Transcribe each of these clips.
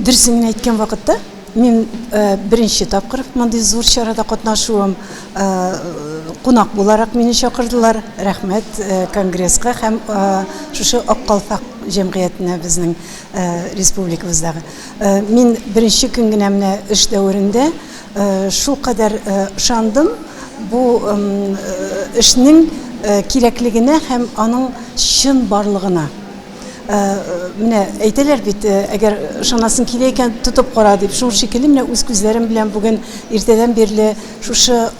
Дөресен генә әйткән вакытта, мин беренче тапкыр мондый зур чарада катнашуым. Кунак буларак мине чакырдылар. Рәхмәт конгресска һәм шушы Ак калфак җәмгыятенә безнең республикабыздагы. Мин беренче көн генә менә эш дәверендә шулкадәр ышандым бу эшнең кирәклегенә һәм аның чынбарлыгына. Менә әйтәләр бит, әгәр ышанасың килә икән, тотып кара дип. Шул шикелле менә үз күзләрем белән бүген иртәдән бирле шушы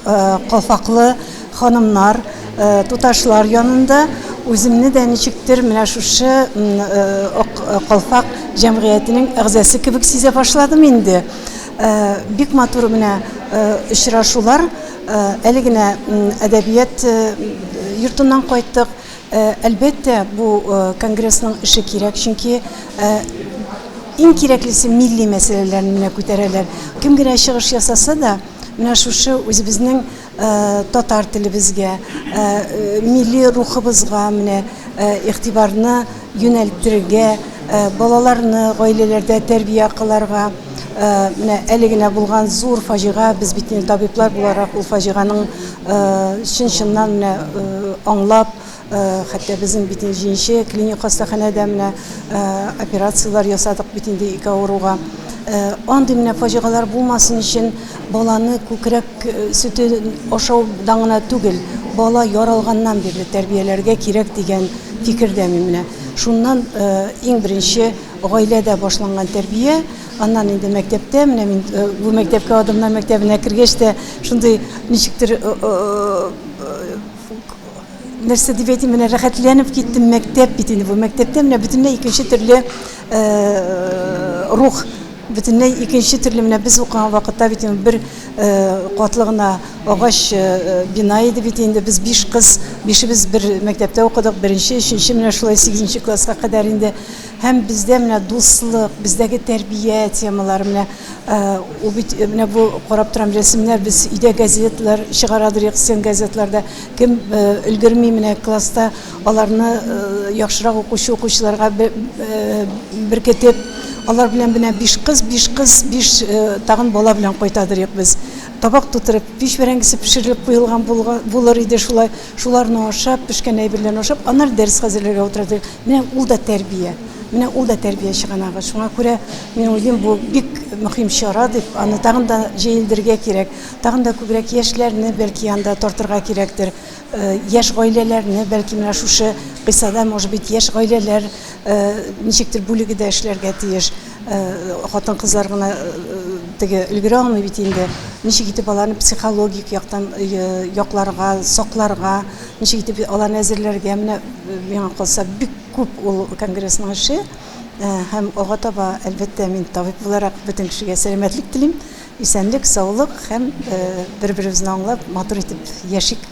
калфаклы ханымнар, туташлар янында үземне дә ничектер менә шушы калфак җәмгыятенең әгъзасы кебек сизә башладым инде. Бик матур менә очрашулар. Әле генә әдәбият йортыннан кайттык. Э, әлбәттә, бу э, конгрессның эше кирәк, чөнки э, иң кирәклесе милли мәсьәләләрне генә күтәрәләр. Кем генә чыгыш ясаса да, менә шушы үзебезнең татар телебезгә, милли рухыбызга менә игътибарны юнәлтергә, балаларны гаиләләрдә тәрбия кыларга, менә әле генә булган зур фаҗига, без бит табиблар буларак ул фаҗиганың Чын-чыннан менә аңлап, хәтта безнең бит инде җенче клиник хастаханәдә менә операцияләр ясадык бит инде ике авыруга. Андый менә фаҗигалар булмасын өчен баланы күкрәк сөте ашаудан гына түгел, бала яралганнан бирле тәрбияләргә кирәк дигән фикердә мин менә. Шуннан иң беренче гаиләдә башланган тәрбия, Аннан инде мәктәптә, менә мин бу мәктәпкә Адымнар мәктәбенә кергәч тә шундый ничектер нәрсә дип әйтим, менә рәхәтләнеп киттем, мәктәп бит инде бу. Мәктәптә менә бөтенләй икенче төрле рух, бөтенләй икенче төрле менә без укыган вакытта бит инде бер катлы гына агач бина иде бит инде. Без биш кыз, бишебез бер мәктәптә укыдык, беренче, өченче, менә шулай сигезенче класска кадәр инде. Һәм бездә менә дуслык, бездәге тәрбия темалары менә ул бит менә бу карап торам рәсемнәр без өйдә газетлар чыгарадыр иксен газетларда кем өлгерми менә класста аларны яхшырак укучы укучыларга беркетеп алар белән менә биш кыз биш кыз биш тагын бала белән кайтадыр ик без табак тутырып пич бәрәңгесе пешерелеп куелган булыр иде шулай Шуларны ашап, пешкән әйберләрне ашап, аннары дәрес хәзерләргә утырды. Менә ул да тәрбия. Менә ул да тәрбия чыганагы. Шуңа күрә мин уйлыйм, бу бик мөһим чара дип, аны тагын да җәелдергә кирәк. Тагын да күбрәк яшьләрне бәлки анда тартырга кирәктер. Э, яшь гаиләләрне бәлки менә шушы кыйссада, может быть, яшь гаиләләр Ничектер бүлеге дә эшләргә тиеш. Хатын-кызлар гына теге өлгерә алмый бит инде. Ничек итеп аларны психологик яктан якларга, сакларга, ничек итеп аларны әзерләргә, менә миңа калса бик күп ул конгрессның эше. Һәм алга таба, әлбәттә, мин табиб буларак бөтен кешегә сәламәтлек телим, исәнлек, саулык һәм бер-беребезне аңлап, матур итеп яшик.